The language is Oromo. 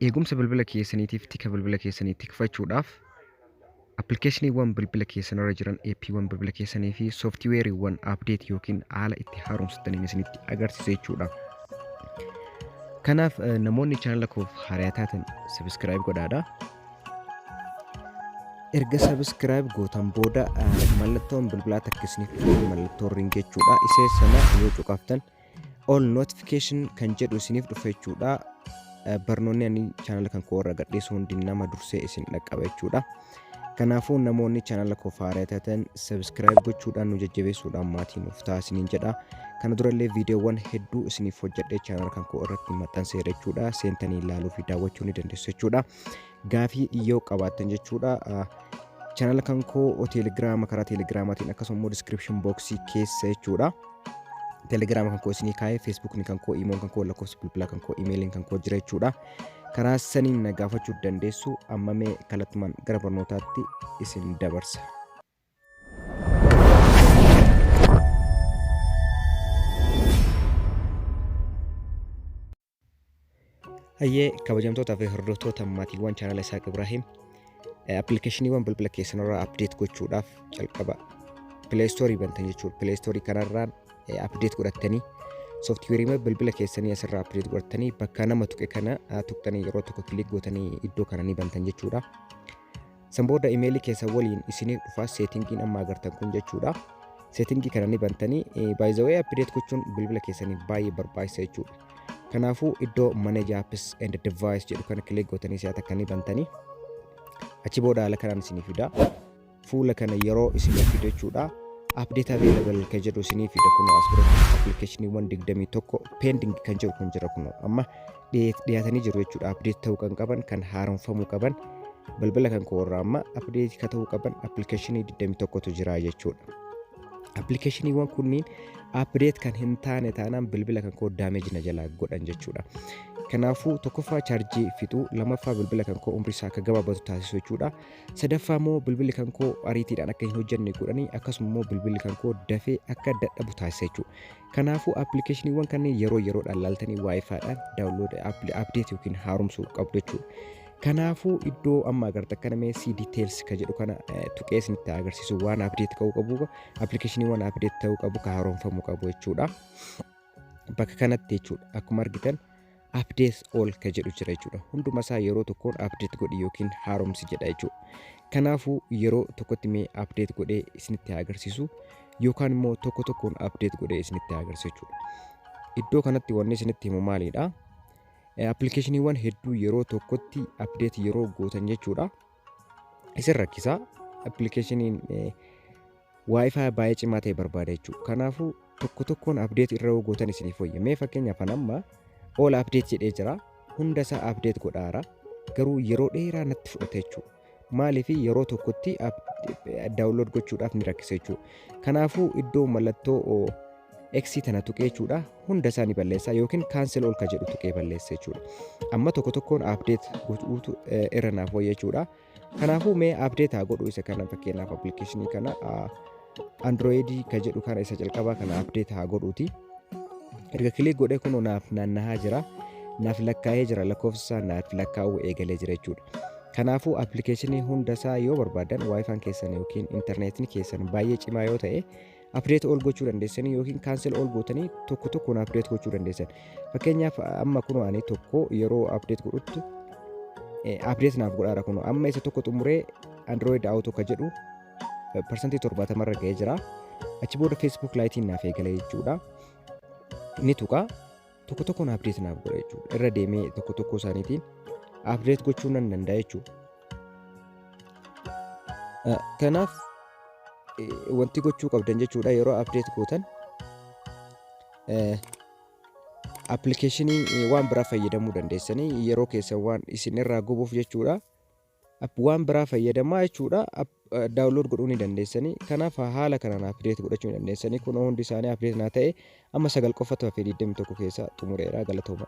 Eegumsa bilbila keessaniitiif tika bilbila keessanii tikfachuudhaaf appilikeeshiniiwwan bilbila keessanirra jiran, eeppiiwwan bilbila keessanii fi sooftiweeriiwwan apdeet yookiin haala itti haaromsattaniin isinitti agarsiisa jechuudha. Kanaaf eh, namoonni chaanala koof haaraa taatan sabiskiraayib godhaadha. Erga sabiskiraayib gootan booda eh, mallattoon bilbilaa takka isiniif dhufu mallattoo ring jechuudha. Isee sana yoo cuqaftan all notification kan jedhu isiniif dhufa jechuudha barnoonni ani chaanala kan koo irra gadhiisu hundi nama dursee isin dhaqqaba jechuudha kanaafuu namoonni chaanala koo faaraa taatan subscribe gochuudhaan nu jajjabeessuudhaan maatii nuuf ta'a isiniin jedha kana durallee viidiyoowwan hedduu isiniif hojjedhee chaanala kan koo irratti maxxanseera jechuudha seentanii ilaaluu fi daawwachuu ni dandeessu jechuudha gaafii yoo qabaattan jechuudha channel kan koo telegiraama karaa telegiraamaatiin akkasuma immoo description boxii keessa jechuudha telegiraama kan koo isinii kaa'ee feesbuukni kan koo iimoon kan koo lakkoofsi bilbilaa kan koo imeeliin kan koo jira jechuudha karaa saniin na gaafachuu dandeessu amma mee kallattumaan gara barnootaatti isin dabarsa. Hayyee kabajamtootaa fi hordoftoota maatiiwwan chaanala Isaaq Ibraahiim appilikeeshiniiwwan bilbila keessanirraa apdeet gochuudhaaf jalqaba pileestoorii bantan jechuudha. Pileestoorii kanarraan apdeet godhattanii sooftiweeriiwwan bilbila keessanii asirraa apdeet godhattanii bakka nama tuqe kana tuqxanii yeroo tokko kiliik gootanii iddoo kana ni bantan jechuudha. San booda imeelii keessa waliin isiniif dhufaa seetingiin amma agartan kun jechuudha. Seetingii kana ni bantanii baay'izawee appideet gochuun bilbila keessaniif baay'ee barbaachisa jechuudha. Kanaafuu iddoo manage apps and device jedhu kana kilik gootanii si'a takka ni bantanii achi booda haala kanaan isiniif fida. Fuula kana yeroo isiniif fidu jechuudha. Apdeet available kan jedhu isiniif fida kun as biratti appilikeeshiniiwwan 21 pending kan jedhu kun jira kun amma dhiyaatanii jiru jechuudha apdeet ta'uu kan qaban kan haaromfamuu qaban balbala kan koo irraa amma apdeetii ka ta'uu qaban appilikeeshinii 21tu jira jechuudha. Appilikeeshiniiwwan kunniin apdeet kan hin taane taanaan bilbila kan koo daameeji na jalaa godhan jechuudha. Kanaafuu tokkoffaa chaarjii fixuu lammaffaa bilbila kan koo umrii isaa akka gabaabatu taasisuu jechuudha. Sadaffaa immoo bilbilli kan koo ariitiidhaan akka hin hojjenne godhanii akkasuma immoo bilbilli kan koo dafee akka dadhabu taasisa jechuudha. Kanaafuu appilikeeshiniiwwan kanneen yeroo yeroodhaan laaltanii waayifaadhaan daawunlood apdeet yookiin haaromsuu qabdu jechuudha. Kanaafuu iddoo amma agartan kana mee si details ka jedhu kana tuqee isinitti agarsiisu waan apdeet ka'uu qabu appilikeeshiniiwwan apdeet ta'uu qabu ka haaromfamuu qabu jechuudha. Bakka kanatti jechuudha akkuma argitan updates all ka jedhu jira jechuudha. Hunduma isaa yeroo tokkoon update godhi yookiin haaromsi jedha jechuudha. Kanaafuu yeroo tokkotti mee update godhee isinitti haa agarsiisu yookaan immoo tokko tokkoon update godhee isinitti haa agarsiisu jechuudha. Iddoo kanatti wanni isinitti himu maalidha? Appilikeeshiniiwwan hedduu yeroo tokkotti update yeroo gootan jechuudha. isin rakkisa appilikeeshiniin waayifaa baay'ee cimaa ta'e barbaada jechuudha. Kanaafuu tokko tokkoon abdeet irra yoo gootan isiniif wayya. Mee fakkeenyaaf an amma all abdeet jedhee jira. Hunda isaa abdeet godhaara. Garuu yeroo dheeraa natti fudhata jechuudha. Maaliif yeroo tokkotti daawunlood gochuudhaaf ni rakkisa jechuudha. Kanaafuu iddoo mallattoo X tana tuqee jechuudha hunda isaa ni balleessa yookiin cancel all ka jedhu tuqee balleessa jechuudha. Amma tokko tokkoon update gochuutu eh, irra naaf wayya jechuudha. Kanaafuu mee update haa godhu isa kana fakkeenyaaf application kana ah, Android ka jedhu kana isa jalqabaa kana update haa godhuuti. Erga kilik godhee kunoo naaf naannahaa jira. Naaf lakkaa'ee jira lakkoofsa isaa naaf lakkaa'uu eegalee jira jechuudha. Kanaafuu appilikeeshinii hunda isaa yoo barbaadan waayifaan keessan yookiin intarneetni keessan baay'ee cimaa yoo ta'e Update all gochuu dandeessan yookiin cancel all gootanii tokko tokkoon update gochuu dandeessan. Fakkeenyaaf amma kunoo ani tokko yeroo update godhuttu update naaf godhaara kunoo amma isa tokko xumuree Android Auto ka jedhu parsantii torbaatama irra ga'ee jira. Achi booda Facebook Lite'n naaf eegale jechuudha. Ni tuqa. tokko tokkoon update naaf godha jechuudha irra deemee tokko tokko isaaniitiin update gochuu nan danda'a jechuudha Eh, kanaaf eh, wanti gochuu qabdan jechuudha yeroo update gootan eh, appilikeeshinii eh, waan biraa fayyadamuu dandeessanii yeroo keessan waan isin irraa gubuuf jechuudha App waan biraa fayyadamaa jechuudha. App download godhuu ni dandeessanii. Kanaaf haala kanaan update godhachuu ni dandeessanii. Kun hundi isaanii update naa ta'e amma sagal qofatu hafee 21 keessaa xumureera galatooma.